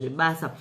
zvebasa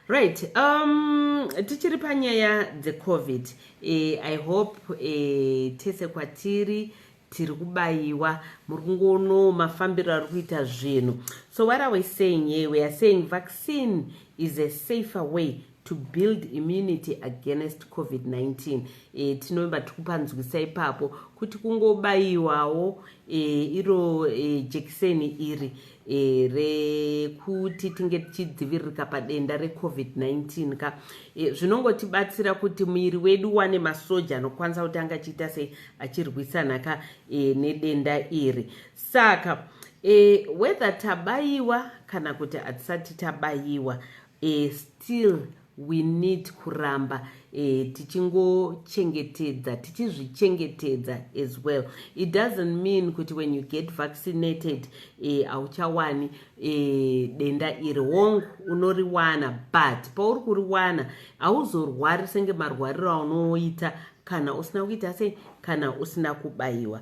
right um, tichiri panyaya dzecovid e, i hope e, tese kwatiri tiri kubayiwa muri kungoonoo mafambiro ari kuita zvinhu so what are we saying here we are saying vaccine is a safer way to build immunity against covid-19 e, tinovimba tiri kupanzwisa ipapo kuti kungobayiwawo e, iro e, jekiseni iri e, rekuti tinge tichidziviririka padenda recovid-19 ka e, zvinongotibatsira kuti muviri wedu wane masoja anokwanisa kuti anga achiita sei achirwisana ka e, nedenda iri saka e, whether tabayiwa kana kuti hatisati tabayiwa e, still we need kuramba eh, tichingochengetedza tichizvichengetedza as well it doesn't mean kuti when you get vaccinated eh, hauchawani eh, eh, denda iri hongu unoriwana but pauri kuriwana hauzorwari senge marwariro aunoita kana usina kuita sei kana usina kubayiwa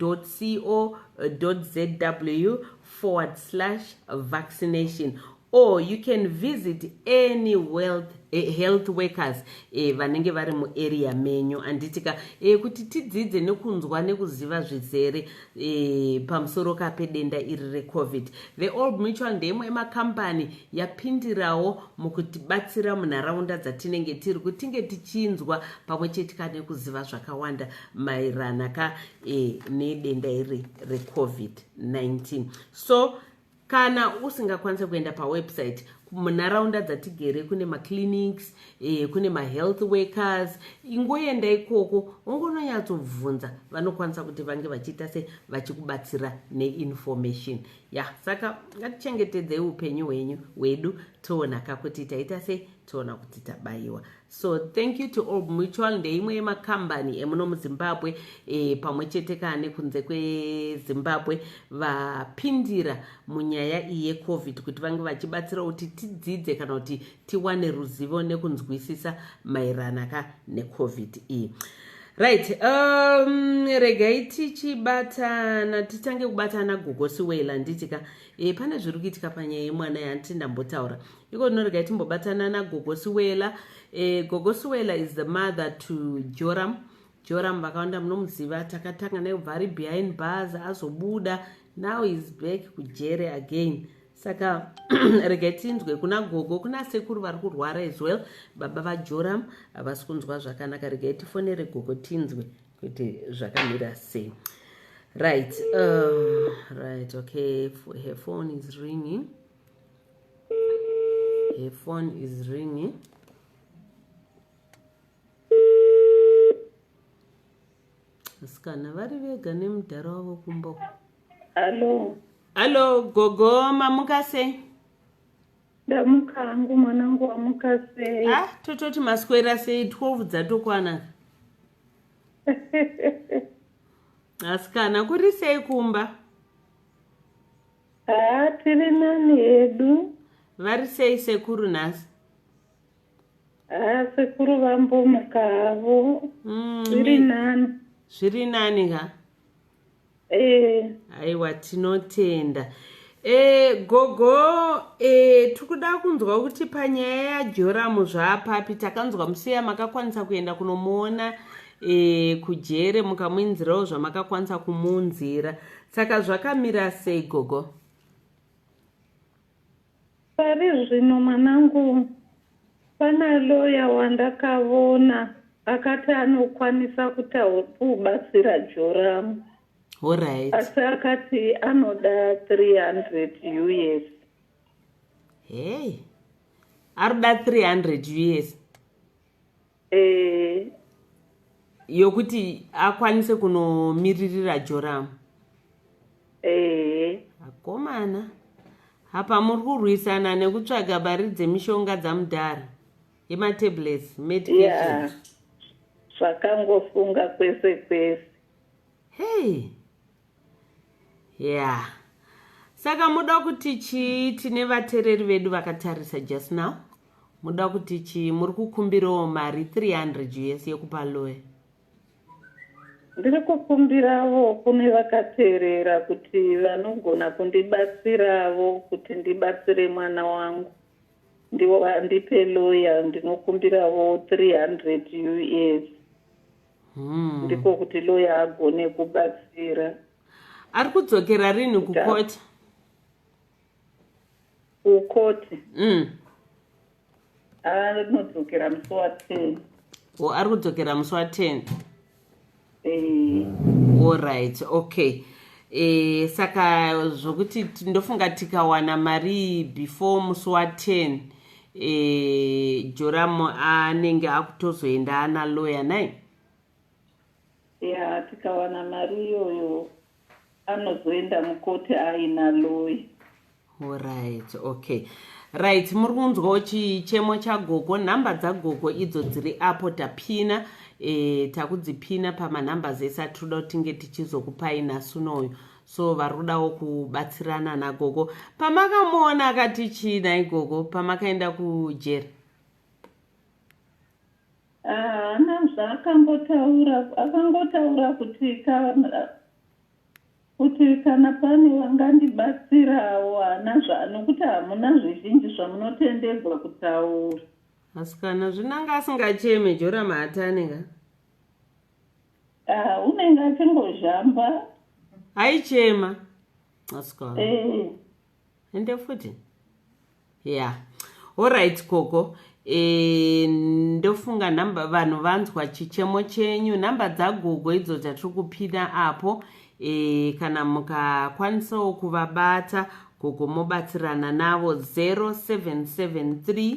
www.ncdc.co.zw forward slash vaccination or you can visit any wealth eh, health workers eh, vanenge vari muarea menyu handitika eh, kuti tidzidze nekunzwa nekuziva zvizere eh, pamusoro ka pedenda iri recovid the old mutual ndeyemwe yemakambani yapindirawo mukutibatsira munharaunda dzatinenge tiri kutinge tichinzwa pamwe chetika nekuziva zvakawanda maerana ka e, nedenda iri recovid-19 so kana usingakwanise kuenda pawebsite munharaunda dzatigere kune maclinics eh, kune mahealth workers ingoenda ikoko ungononyatsobvunza vanokwanisa kuti vange vachiita se vachikubatsira neinformation ya yeah, saka ngatichengetedzei upenyu hwenyu hwedu toonaka kuti taita sei toona kuti tabayiwa so thank you to old mutual ndeimwe yemakambani emuno muzimbabwe e, pamwe chete kaa nekunze kwezimbabwe vapindira munyaya iyi yecovid kuti vange vachibatsira kuti tidzidze kana kuti tiwane ruzivo nekunzwisisa maerana ka necovid iyi right um, regai tichibatana titange kubatana gogosi wela nditika e, eh, pane zviri kuitika panyaya yemwana yanti ndambotaura iko ndinoregai timbobatana nagogo siwela eh, gogo siwela is the mother to joram joram vakawanda munomuziva takatanga naye kubva ari behind bars azobuda now is back kujere again saka regai tinzwe kuna gogo kuna sekuru vari kurwara as well baba vajoram havasi kunzwa zvakanaka regai tifonere gogo tinzwe kuti zvakamira sei right uh, right okay her phone is ringing Her phone is ringing. Asikana vari vega nemudhara wavo kumba. Hello. Hello gogo mamuka sei? Ndamuka hangu mwanangu wamuka sei? Ah tototi maswera sei 12 dzatokwana. Asikana kuri sei kumba? Haa tiri nani hedu. Vari sei sekuru nhasi? Haa sekuru vambomuka havo. Mm, zviri nani. Zviri nani ka? Eh. Aiwa tinotenda. E, gogo e, eh, tikuda kunzwa kuti panyaya yajoramu zvaapapi takanzwa musiya makakwanisa kuenda kunomuona e, kujere mukamuinzirawo zvamakakwanisa kumuunzira saka zvakamira sei gogo pari zvino mwanangu pana loya wandakavona akati anokwanisa kutakubatsira joramu horit asi akati anoda 300 us hei aruda 300 us eh. yokuti akwanise kunomiririra joramu eh. akomana apa muri kurwisana nekutsvaga mari dzemishonga dzamudhara yematablets medication zvakangofunga kwese kwese hey yeah saka muda kuti chii tine vatereri vedu vakatarisa just now muda kuti chii muri kukumbirawo mari 300 us yekupa loye ndiri kukumbiravo kune vakateerera kuti vanogona kundibatsiravo kuti ndibatsire mwana wangu ndivo vandipe loya ndinokumbiravo 300 us hmm. ndiko kuti loya agone kubatsira ari kudzokera rini kukoti kukoti mm. anodzokera musi wa ten o ari kudzokera musi wa ten eh. allright okay e, saka zvokuti ndofunga tikawana mari before musi wa ten eh, joram anenge akutozoenda ana loya nai ya tikawana mari iyoyo anozoenda mukoti aina loya orit okay right muri kunzwawo chichemo chagogo nhamba dzagogo idzo dziri apo tapina e, takudzipina pamanumbers ese atiri kuda kutinge tichizokupai nasunoyo so vari kudawo kubatsirana nagogo pamakamuona akati chii nai gogo pamakaenda kujeri haana ah, zvaakambotaura akangotaura kuti kuti kana pane vangandibatsirawo haana zvanokuti hamuna zvizhinji zvamunotendegwa kutaura asikana zvinanga asingacheme jora mahataneka Ah, unenge achingozhamba aichema asika eh. ende futi yeah orit koko e, ndofunga namba vanhu vanzwa chichemo chenyu nhamba dzagogo idzo dzatiri kupina apo e, kana mukakwanisawo kuvabata gogo mobatsirana navo 0773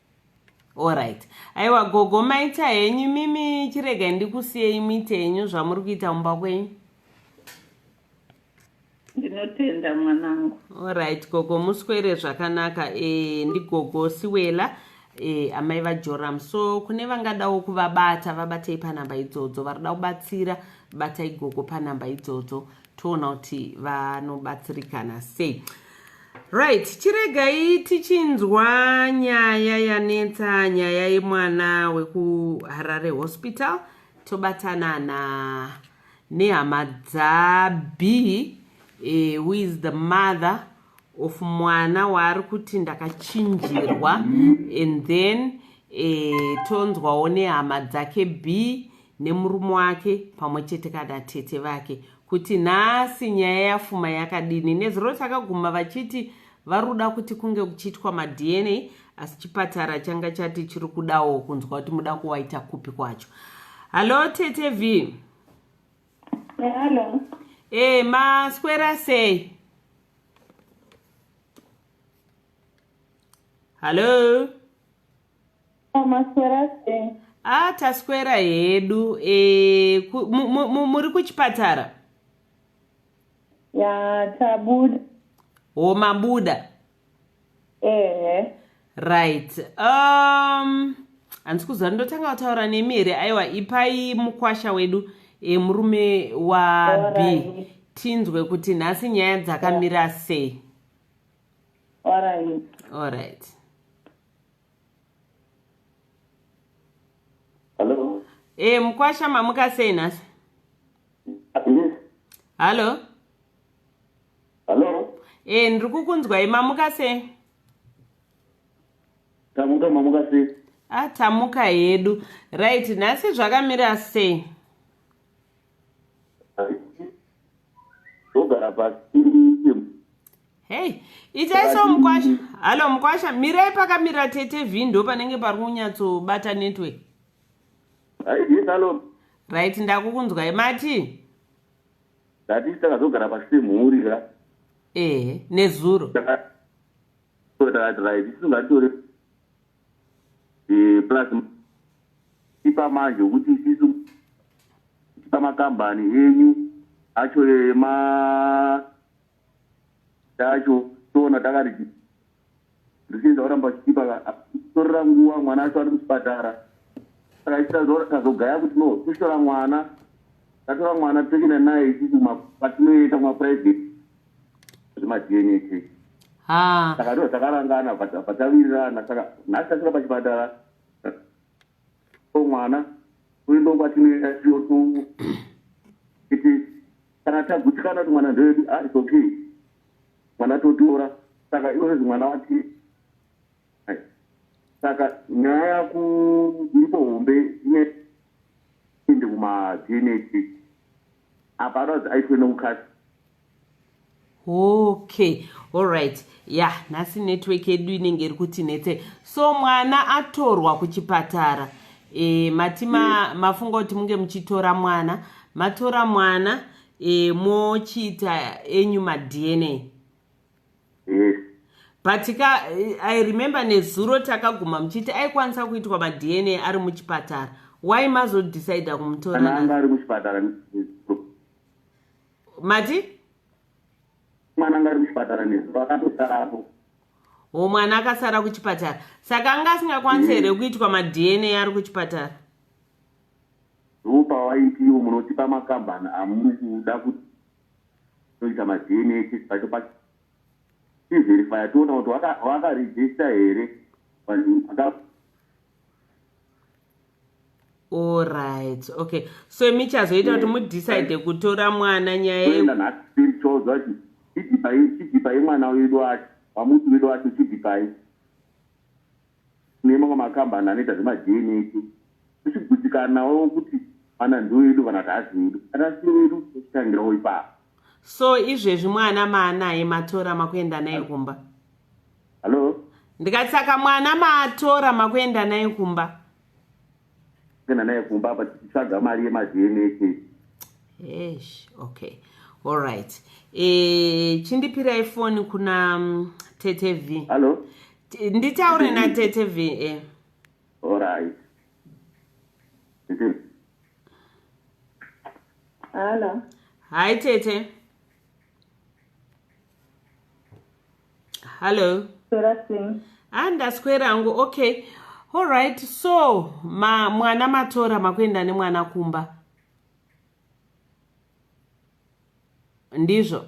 orit aiwa gogo maita henyu mimi chiregai ndikusiyei muite henyu zvamuri kuita mumba kwenyu ndinotenda mwanangu orit gogo muswere zvakanaka e, ndigogo siwela e, amai vajoram so kune vangadawo kuvabata vabatei panhamba idzodzo varikuda kubatsira batai gogo panhamba idzodzo toona kuti vanobatsirikana sei right chiregai tichinzwa nyaya yanetsa nyaya yemwana wekuharare hospital tobatanana nehama dzab eh, who is the mother of mwana waari kuti ndakachinjirwa and then eh, tonzwawo nehama dzake b nemurume wake pamwe chete kana tete vake kuti nhasi nyaya yafuma yakadini nezuro takaguma vachiti vari kuda kuti kunge kuchiitwa madna asi chipatara changa chati chiri kudawo kunzwa kuti muda kuwaita kupi kwacho hallo tete v hallo e maswera sei hallo Maswera sei? Ah, taswera hedu. Eh, muri kuchipatara? Ya, tabuda. Oh, mabuda. Eh. Right. Um, handisi kuziva ndotanga kutaura nemi here aiwa ipai mukwasha wedu e, murume wab tinzwe kuti nhasi nyaya dzakamira sei all right, all right. Hello. Eh, mkwasha mamuka sei nhasi? Yes. Hello. Hello. Eh, ndiri kukunzwai mamuka sei? Tamuka mamuka sei? Ah, tamuka hedu. Right, nhasi zvakamira sei? ogara pasi hei itai so mukwasha halo mukwasha mirai pakamira tete vhi ndo panenge pari kunyatsobata network right ndakukunzwai mati ndati takazogara pasi semhuri ka ehe nezuro takati right tisingatori eh, plus tipa manje ukuthi isisu amakambani enyu acho ema tacho tona takati ndichinza oramba chichipa torera nguva mwana acho ari muchipatara saka ichitazogaya kuti no tushora mwana tatora mwana toenda naye isusu patinoenda kumaprivate zvemadna tese ah. saka ndo takarangana patavirirana saka nhasi tasvika pachipatara mwana uindo kwatinoenda tiyoto iti kana tagutikana kuti mwana ndoedu ah, its okay mwana totora saka iwezi mwana wati saka nyaya yaku iripo hombe ineende kumadna test apa ada kuti aitwe nekukasi okay allright ya yeah, nhasi network yedu inenge iri kuti netse so mwana atorwa kuchipatara e, mati ma, mm. mafunga kuti munge muchitora mwana matora mwana e, mochiita enyu madna yes but ka i remember nezuro takaguma muchiti aikwanisa kuitwa madna ari muchipatara why mazodecide kumutoraanga ari muchipatara mati mwana anga ari muchipatara nezuro akatosarapo o mwana akasara kuchipatara saka anga asingakwanisa here mm. kuitwa madna ari kuchipatara ndo pawaitiwo munotipa makambani amuri kuda kuti toita madna test pacho pacho tiverifya toona kuti wakaregista here allright okay so imi chazoita kuti mudecide kutora mwana nyaya chidipai mwana wedu wacho wamuti wedu wacho chidipai nemamwe makambani anoita zvemaDNAT tichigutsikanawo kuti vana ndiwo edu kana kuti haasi wedu kana asi wedu tochitangirawo ipapo so izvezvi mwana maanaye matora makuenda naye kumba hallo ndikati saka mwana matora makuenda naye kumba Kana naye kumba apa tichitsvaga mari yemaDNA test. Eish, okay. All right. Eh, chindipirai phone kuna mm, Tete V. Hello. T- Nditaure na Tete V. Eh. All right. Hello. Hi Tete. hallo ah ndaswera hangu okay allright so ma mwana matora makuenda nemwana kumba ndizvo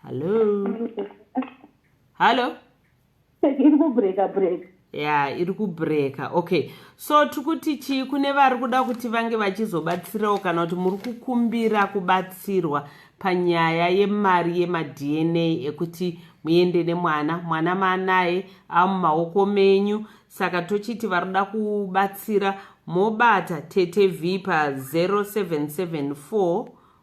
hallo hallo iri kubreaka breaka ya iri kubreaka okay so tiri kuti chii kune vari kuda kuti vange vachizobatsirawo kana kuti muri kukumbira kubatsirwa panyaya yemari yemadna ekuti muende nemwana mwana maanaye amumaoko menyu saka tochiti vari kuda kubatsira mobata tete v pa 0774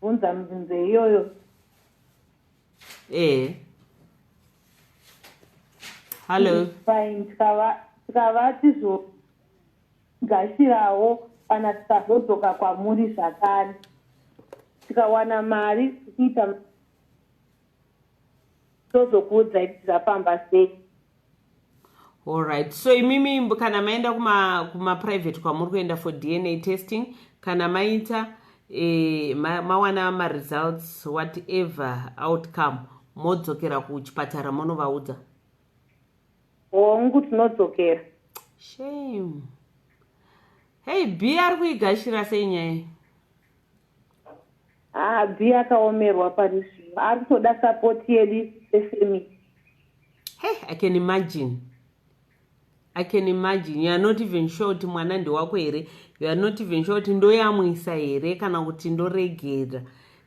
bvunza mibvunzo iyoyo ee eh. hallo fine tikavati zvogashirawo kana tikazodzoka kwamuri zvakare tikawana mari tikuita tozokuudzai kuti zvafamba sei allright so imimi kana maenda kumaprivate kuma kwamuri kuenda for dna testing kana maita e, ma, mawana maresults whatever outcome modzokera kuchipatara monovaudza hongu tinodzokera shame hei b ari kuigashira sei nyaya haabvi akaomerwa pari zvino ari kutoda sapoti yedu sefamily hey, i can imagine i can imagine you are not even sure kuti mwana ndewako here you are not even sure kuti ndoyamwisa here kana kuti ndoregera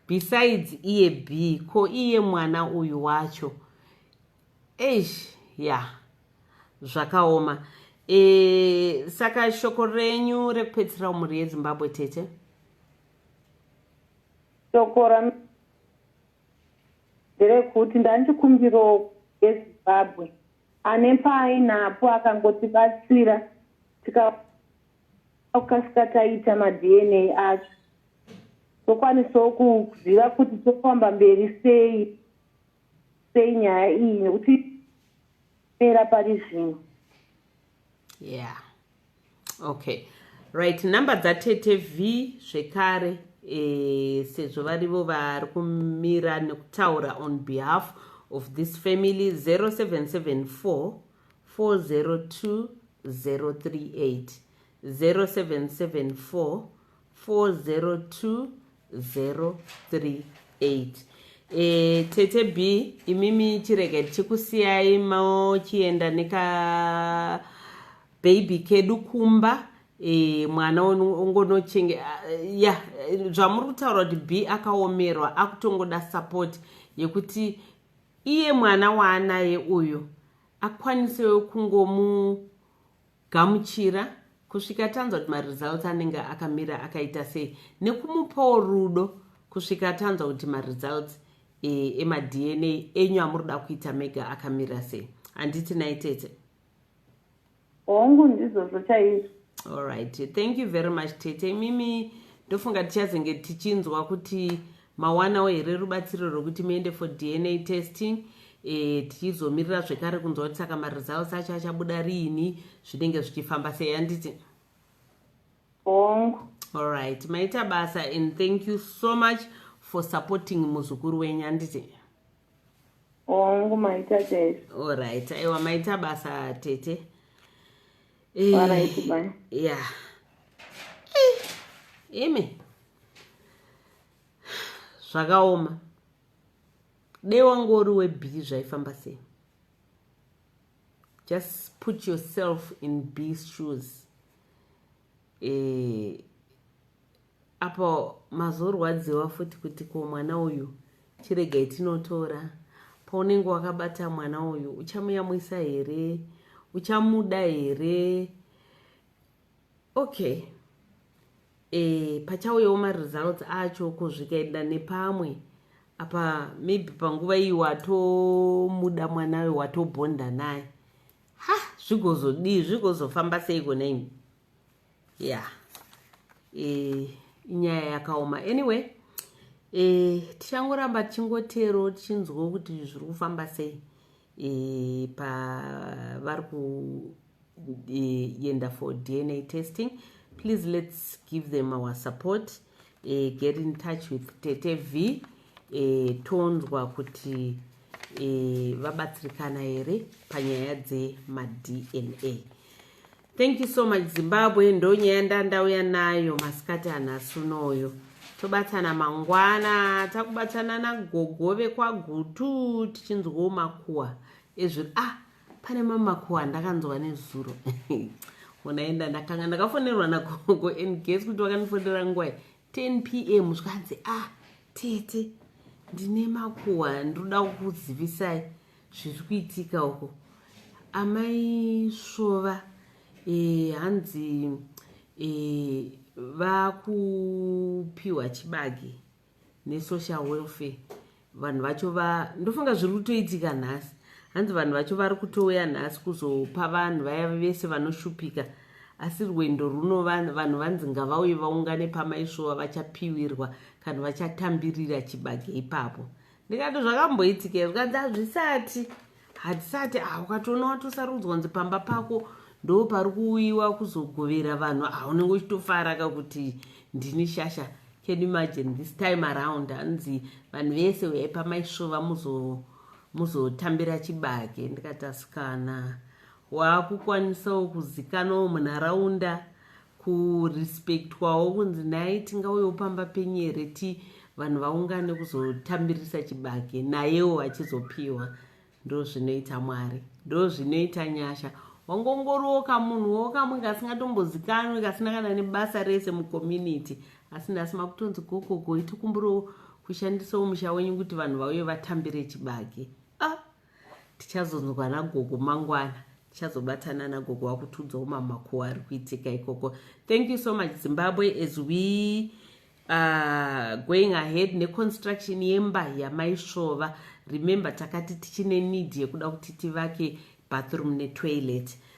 besides iye b ko iye mwana uyu wacho eish ya zvakaoma e, saka shoko renyu rekupedzisira umhuri yezimbabwe tete shoko ra nderekuti ndanchikumbiro yezimbabwe ane paainapo akangotibatsira tikakasika taita madna acho tokwanisawo kuziva kuti tofamba mberi sei sei nyaya iyi nekuti pera pari zvino yeah okay right number dzatete v zvekare e, sezvo varivo vari kumira nekutaura on behalf of this family 0774 402 038 0774 402038 e, tete b imimi chirega tichikusiyai mochienda neka baby kedu kumba e, mwana ongonochenge ya yeah, zvamuri kutaura kuti b akaomerwa akutongoda support yekuti iye mwana waanaye uyu akwanisewo kungomu gamuchira kusvika tanzwa kuti maresults anenge akamira akaita sei nekumupawo rudo kusvika tanzwa kuti maresults e, emadna enyu amuri kuda kuita mega akamira sei handiti nai tete hongu ndizvozvo chaizvo allright thank you very much tete imimi ndofunga tichazenge tichinzwa kuti mawanawo here rubatsiro rwekuti muende for dna testing e, tichizomirira zvekare kunzwa kuti saka maresults acho achabuda riini zvinenge zvichifamba sei handiti hongu allright maita basa and thank you so much for supporting muzukuru wenyu handiti hongu maita chaiso allright aiwa maita basa tete eh, ya eh, imi zvakaoma dei wangu uri webhii zvaifamba sei just put yourself in bee shoes eh, apo mazorwadziwa futi kuti ko mwana uyu chiregai tinotora paunenge wakabata mwana uyu uchamuyamwisa here uchamuda here okay e, pachauyawo maresults acho ko zvikaenda nepamwe apa maybe panguva iyi watomuda mwana uyu watobhonda naye ha zvigozodii zvigozofamba seiko neni ya yeah. e, inyaya yakaoma anyway e, tichangoramba tichingotero tichinzwa kuti zviri kufamba sei e, pavari kuenda e, for dna testing please let's give them our support e, get in touch with tete v e, tonzwa kuti e, vabatsirikana here panyaya dzemadna Thank you so much Zimbabwe ndonyaya ndandauya nayo masikati anhasi unoyo tobatsana mangwana takubatsana nagogo vekwagutu tichinzwawo makuwa ezviri ah pane mamakuwa andakanzwa nezuro unaenda ndakanga ndakafonerwa nagogo and guess kuti vakandifonera ngwai 10 p m zvikanzi ah tete ndine makuwa ndinoda kukuzivisai zviri kuitika uko amai svova e, hanzi e, vakupiwa chibage nesocial welfare vanhu vacho va ndofunga zviri kutoitika nhasi hanzi vanhu vacho vari kutouya nhasi kuzopa vanhu vaya vese vanoshupika asi rwendo runo vanhu vanzi ngavauye vaungane pamaisvova vachapiwirwa kana vachatambirira chibage ipapo ndikati zvakamboitikei zvikanzi hazvisati hatisati ah ukatoona watosarudzwa nzi pamba pako ndo pari kuuyiwa kuzogovera vanhu ah unenge uchitofara ka kuti ndini shasha can imagine this time around anzi vanhu vese uyai pamaisvova muzotambira muzo chibage ndikatasikana waakukwanisawo kuzikanawo munharaunda kurespectwawo kunzi naye tingauyewo pamba penyere ti vanhu vaungane kuzotambirisa chibage nayewo achizopiwa ndo zvinoita mwari ndo zvinoita nyasha wangongoriwo kamunhu wo kamwe kasingatombozikanwi kasina kana nebasa rese mucommunity asi nhasi makutonzi gogogo itikumbiriwo kushandisawo musha wenyu kuti vanhu vauye vatambire chibage tichazonzwa nagogo mangwana tichazobatana nagogo wakutiudzawo mamakuwa ari kuitika ikoko thank you so much zimbabwe as we uh, going ahead neconstruction yemba yamaisvova remember takati tichine need yekuda kuti tivake bathroom netoilet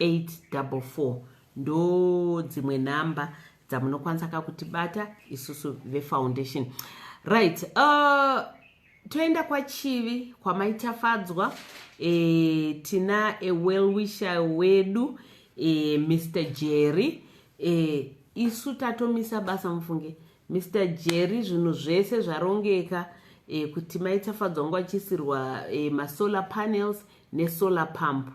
844 ndo dzimwe nhamba dzamunokwanisa ka kutibata isusu vefoundation right uh, toenda kwachivi kwamaitafadzwa e, eh, tina ewellwisher wedu e, eh, mr jerry e, isu tatomisa basa mufunge mr jerry zvinhu zvese zvarongeka e, kuti maitafadzwa ngo achisirwa e, masolar panels nesolar pump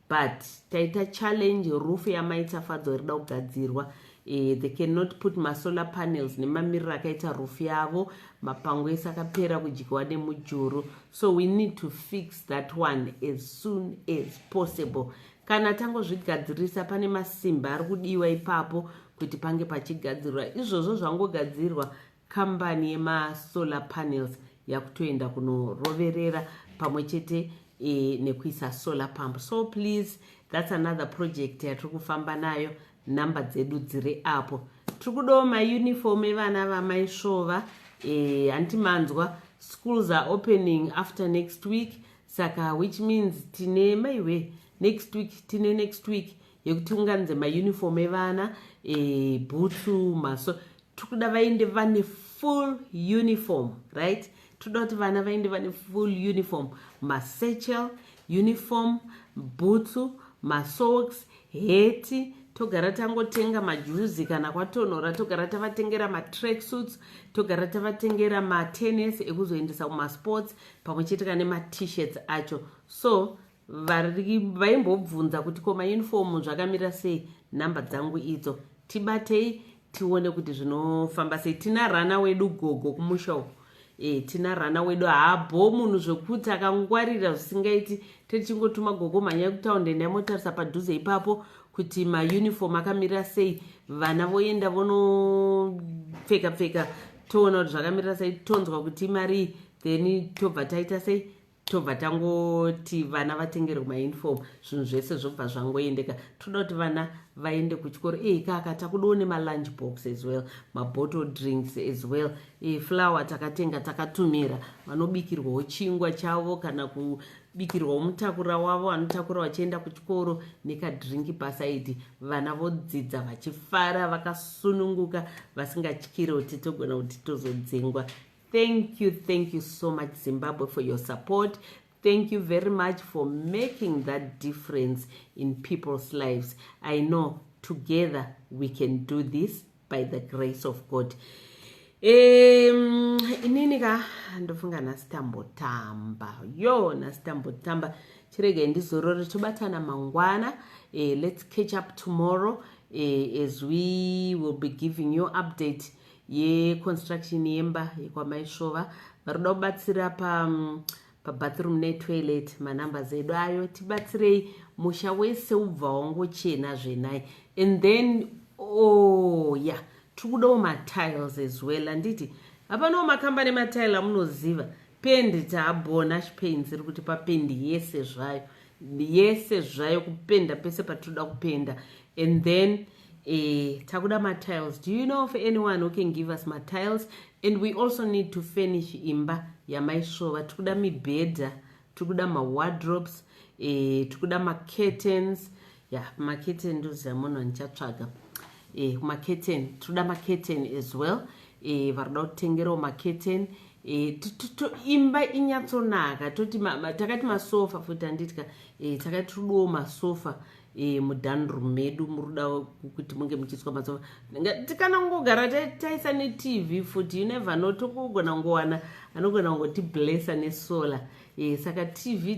but taita challenge roof yamaita fadzo rida kugadzirwa eh, they cannot put masolar panels nemamiriro akaita roof yavo mapango ese akapera kudyiwa nemujuru so we need to fix that one as soon as possible kana tangozvigadzirisa pane masimba ari kudiwa ipapo kuti pange pachigadzirwa izvozvo zvangogadzirwa kambani yemasolar panels yakutoenda kunoroverera pamwe chete e, nekuisa solar pump so please that's another project yatiri kufamba nayo nhamba dzedu dziri apo tiri kudawo mauniform evana vamaisvova e, hanti manzwa schools are opening after next week saka which means tine maiwe next week tine next week yekuti unganze mauniform evana e, bhutsu maso tikuda vaende vane full uniform right tikuda kuti vana vaende vane full uniform masechel uniform bhutsu masocks heti togara tangotenga majuzi kana kwatonhora togara tavatengera matrack suits togara tavatengera matennis ekuzoendesa kumasports pamwe chete kane matishirts acho so vaimbobvunza kuti koma uniform zvakamirira sei nhamba dzangu idzo tibatei tione kuti zvinofamba sei tina rana wedu gogo kumusha uku e, tina rana wedu haabho munhu zvekuti akangwarira zvisingaiti tetichingotuma gogo mhanyai kutaund enda imotarisa padhuze ipapo kuti mauniform akamirira sei vana voenda vonopfeka pfeka toona kuti zvakamirira sei tonzwa kuti imarii then tobva taita sei tobva tangoti vana vatengerwe mauniform zvinhu zvese zvobva zvangoendeka toda kuti vana vaende kuchikoro ii kaka takudiwo nemalunch box as well mabottle drinks as well e, flower takatenga takatumira vanobikirwawo chingwa chavo kana kubikirwawo mutakura wavo vanotakura vachienda kuchikoro nekadrinki pasaidi vana vodzidza vachifara vakasununguka vasingatyire kuti togona kuti tozodzengwa thank you thank you so much zimbabwe for your support thank you very much for making that difference in people's lives i know together we can do this by the grace of god um inini ka ndofunga nhasi tambotamba yo nhasi tambotamba chiregai ndizorore tobatana mangwana eh, let's catch up tomorrow eh, as we will be giving you update yeconstruction yemba yekwamaisvova vari kuda kubatsira pa pabathroom netoilet manumbers edu ayo tibatsirei musha wese ubva wangochena zvenai and then oh ya yeah. tiri kudawo matiles as well anditi hapanawo makamba nematile amunoziva pendi taabona chipains iri kuti papendi yese zvayo yese zvayo kupenda pese patinoda kupenda and then eh, takuda matiles do you know of anyone who can give us matiles and we also need to furnish imba yamaisvova tikuda mibhedha tikuda mawardrobes eh, tikuda macurtains ya yeah, kumaketeni ndoziva munhu andichatsvaga eh, kumaketeni tinoda maketeni as well eh, varikuda kutengerawo maketeni eh, imba inyatsonaka toti takati masofa futi anditika eh, takati tiriduwo masofa eh, mudanru medu muruda kuti munge muchiiswa masofa tikana kungogara taisa netv futi you never no tokugona kungowana anogona kungoti blessa nesolar Eh, saka tv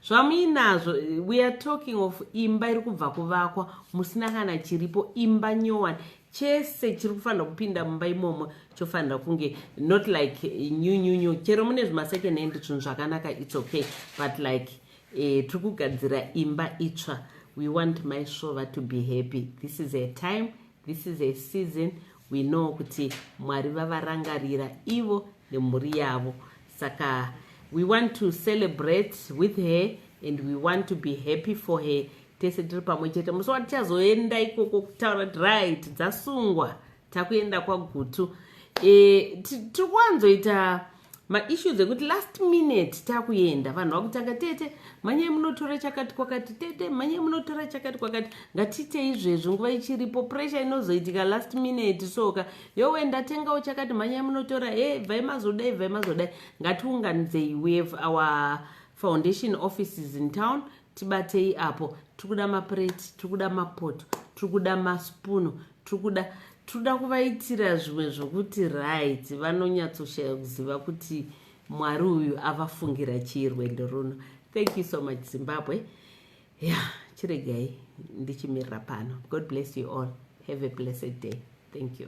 zvamuinazvo weare talking of imba iri kubva kuvakwa musina kana chiripo imba nyowani chese chiri kufanira kupinda mumba imomo chofanira kunge not like new new new chero mune zvimasecond hand zvinhu zvakanaka its okay but like eh, tiri kugadzira imba itsva we want mysvova to be happy this is a time This is a season we know kuti Mwari vavarangarira ivo nemhuri yavo. Saka we want to celebrate with her and we want to be happy for her. Tese tiri pamwe chete. Musi watichazoenda ikoko kutaura kuti right dzasungwa takuenda kwagutu. E, tiri kuwanzoita maissues ekuti last minute takuenda vanhu vakutanga tete manyai munotora chakati kwakati tete manyai munotora chakati kwakati ngatiite izvezvi nguva ichiripo pressure inozoitika last minute soka yowe ndatengawo chakati manyai munotora he bvai mazodai bvai mazodai ngatiunganidzei we have our foundation offices in town tibatei apo tiri kuda mapureti tiri kuda mapoto tiri kuda masipunu tiri kuda tiri kuda kuvaitira zvimwe zvokuti right vanonyatsoshaya kuziva kuti mwari uyu avafungira chii rwendo runo thank you so much zimbabwe ya yeah, chiregai ndichimirira pano god bless you all have a blessed day thank you